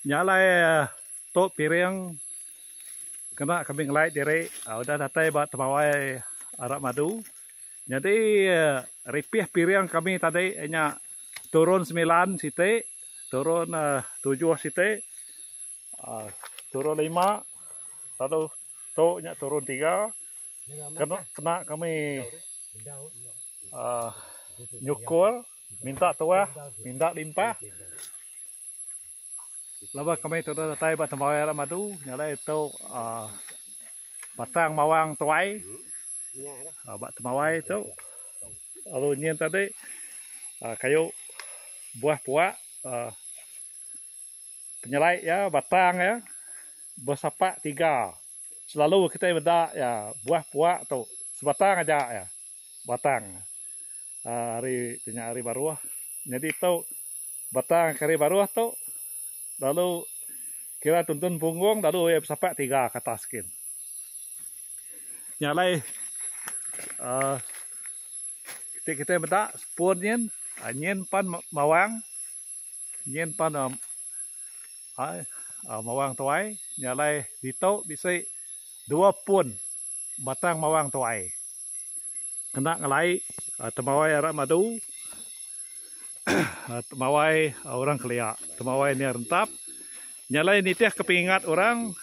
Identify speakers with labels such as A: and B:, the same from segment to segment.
A: Nya alai tu piring kena kami ngelai diri udah datai ba temawai arak madu nyadi ripih piring kami tadi nya turun semilan siti turun tujuh siti aaa turun lima lalu tu nya turun tiga kena kena kami aaa nyukur. Minta tuah, minda limpah. Laban kami tudah datai ba tembuai arak madu nya alai tu aaa batang mawang tuai ba tembuai tu lalu nyin tadi aaa kayu buah puak aaa penyelai iya batang iya besapak tiga selalu kitai meda iya buah puak tu sebatang aja iya batang. ari tu nya ari baruh nyadi tu batang kari baruh tu lalu kira tuntun punggung lalu iya besapak tiga ke atas gin nya alai um iti kitai meda sepun nyin nyin pan mawang nyin pan um mawang tuai nya alai ditu bisi dua pun batang mawang tuai. Kena ngelai temawai arak madu, temawai orang kelia, temawai nia rentap, nya alai nitih ke pengingat orang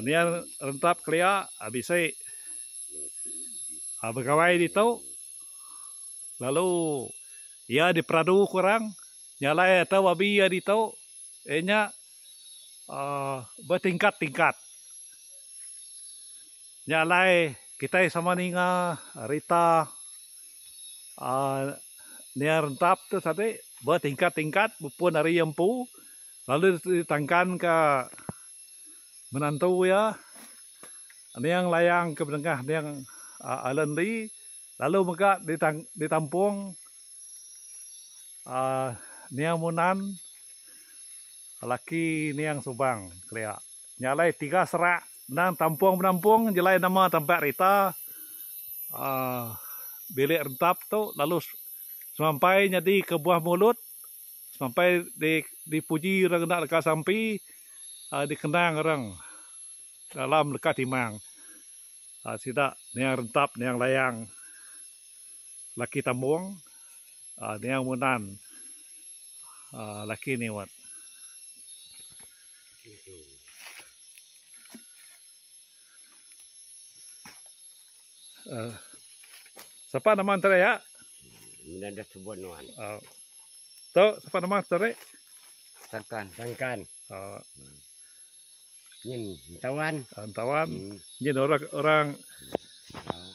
A: nia rentap kelia bisi begawai ditu lalu iya diperadu ku orang nya alai atu babi iya ditu iya nya betingkat-tingkat. Nya alai kitai sama ninga rita aaa nia rentap tu tadi betingkat-tingkat bepun ari iya empu lalu ditangkanka menantu iya Neang Layang ke bedengah Neang Allan Lee lalu mega ditang ditampung aaa Neang Munan laki Neang Subang kelia. Nya alai tiga serak endang tampung penampung jelai nama tampat rita aaa bilik rentap tu lalu semampai nyadi ke buah mulut semampai di dipuji orang enda leka sampi aaa dikenang orang dalam leka timang aaa sida niang rentap niang layang laki tambung. Aa niang munan aa laki ni wat. Aa sapa nama enter iya? Munan da subon wan. Aa tu sapa nama enter ri? Sangkan. Sangkan. Aa Nyin entawan. Ah, entawan. Hmm. Nyin orang orang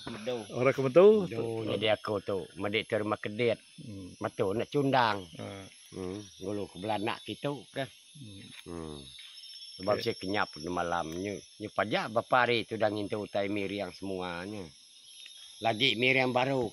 A: Medu. Orang kemedu. Medu jadi aku tu. Madi tu rumah kedit. Hmm. Matu nak cundang. Ah. Hmm. Ngulu ke belanak kitu ke. Hmm. hmm. Sebab okay. saya kenyap malam nyu. Nyu pajak bapa hari tu dah ngintu utai miriang semuanya. Lagi miriang baru.